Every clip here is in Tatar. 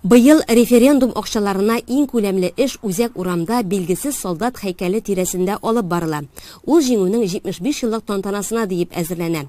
Быел референдум акчаларына иң күләмле эш Үзәк урамда билгесез солдат һәйкәле тирәсендә алып барыла. Ул Җиңүнең 75 еллык тантанасына диеп әзерләнә.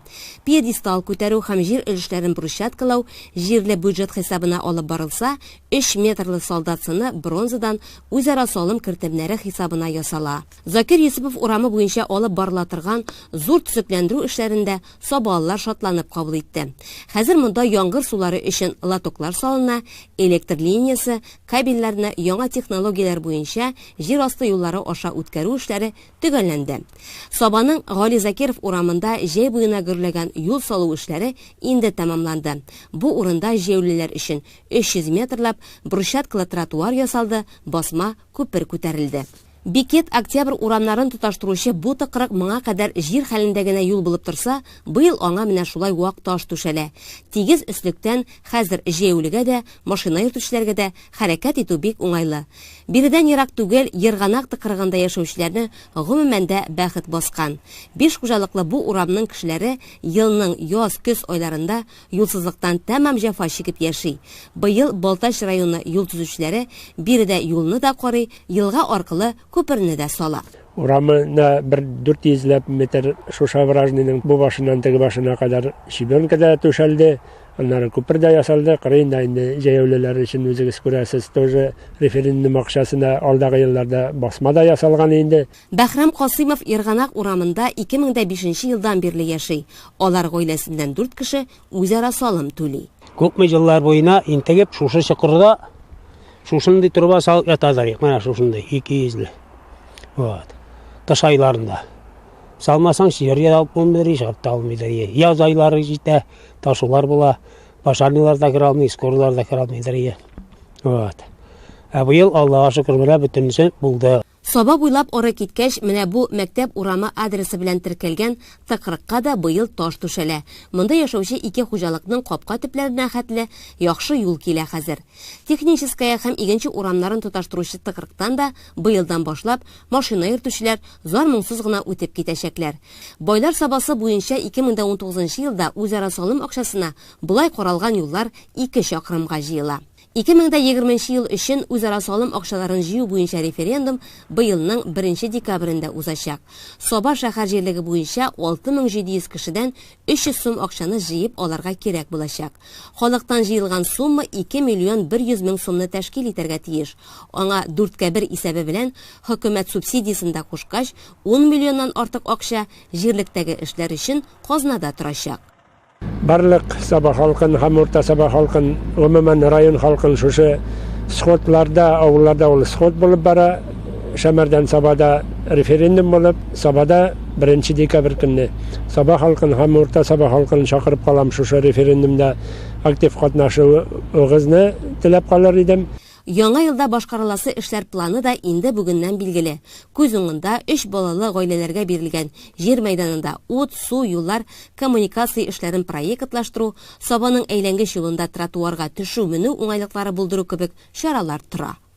Пьедестал күтәрү һәм җир өлешләрен брусчаткалау җирле бюджет хисабына алып барылса, өч метрлы солдат сыны бронзадан үзара салым кертемнәре хисабына ясала. Закир Йосыпов урамы буенча алып барыла торган зур төзекләндерү эшләрен дә сабалылар шатланып кабул итте. Хәзер монда яңгыр сулары өчен лотоклар салына, электр линиясе, кабельләрне яңа технологияләр буенча җир асты юллары аша үткәрү эшләре төгәлләнде. Сабаның Гали Закиров урамында җәй буена гөрләгән юл салу эшләре инде тәмамланды. Бу урында җәяүлеләр өчен 300 метрлап брусчаткалы тротуар ясалды, басма күпер күтәрелде. Бикет, Октябрь урамнарын тоташтыручы бу тыкрык моңа кадәр җир хәлендә генә юл булып торса, быел аңа менә шулай вак таш түшәлә. Тигез өслектән, хәзер җәяүлегә дә, машина йөртүчеләргә дә хәрәкәт итү бик уңайлы. Биредән ерак түгел Ерганак тыкрыгында яшәүчеләрне гомумән дә бәхет баскан. Биш хуҗалыклы бу урамның кешеләре елның яз, көз айларында Юлсызлыктан тәмам җәфа чигеп яши. Быел Балтач районы юл төзүчеләре биредә юлны да карый, елга аркылы күперне дә сала. Урамына бер дүрт йөзләп метр Шушавражныйның бу башыннан теге башына кадәр щебенка да түшәлде, аннары күпер дә ясалды, кырыен да инде җәяүлеләр өчен, үзегез күрәсез, тоже референдум акчасына алдагы елларда басма да ясалган инде. Бәһрам Касыймов Ерганак урамында ике мең дә бишенче елдан бирле яши. Алар гаиләсеннән дүрт кеше үзара салым түли. Күпме еллар буена интегеп шушы чокырда шушындый труба салып ятадыр ик, менә шушындый, ике йөзле. Вот. Кыш айларында. Салмасаң, җир дә алып булмыйдыр, ишап та алмыйдыр. Е, Яз айлары җитә, ташулар була, пожарныйлар да керә алмый, скорыйлар да керә алмыйдыр. е. Вот. Ә быел, Аллага шөкер, менә бөтенесе булды. Саба буйлап ары киткәч, менә бу мәктәп урамы адресы белән теркәлгән тыкрыкка да быел таш түшәлә. Монда яшәүче ике хуҗалыкның капка төпләренә хәтле яхшы юл килә хәзер. Техническая һәм Игенче урамнарын тоташтыручы тыкрыктан да быелдан башлап машина йөртүчеләр зар-моңсыз гына үтеп китәчәкләр. Байлар Сабасы буенча 2019 елда үзара салым акчасына болай каралган юллар ике чакрымга җыела. Ике мең дә егерме нче ел өчен үзара салым акчаларын җыю буенча референдум быелның беренче декабрендә узачак. Саба шәһәр җирлеге буенча 6700 кешедән 300 сум акчаны җыеп алырга кирәк булачак. Халыктан җыелган сумма 2 миллион 100 мең сумны тәшкил итәргә тиеш. Аңа дүрткә бер исәбе белән хөкүмәт субсидиясен дә кушкач, ун миллионнан артык акча җирлектәге эшләр өчен казнада торачак. Барлык Саба халкын һәм Урта Саба халкын, гомумән, район халкын шушы сходларда, авылларда ул сход булып бара, Шәмәрдән Сабада референдум булып, Сабада беренче декабрь көнне Саба халкын һәм Урта Саба халкын чакырып калам шушы референдумда актив катнашуыгызны теләп калыр идем. Яңа елда башкарыласы эшләр планы да инде бүгеннән билгеле. Күз уңында, өч балалы гаиләләргә бирелгән җир мәйданында ут, су, юллар, коммуникация эшләрен проектлаштыру, Сабаның әйләнгеч юлында тротуарга төшү-менү уңайлыклары булдыру кебек чаралар тора.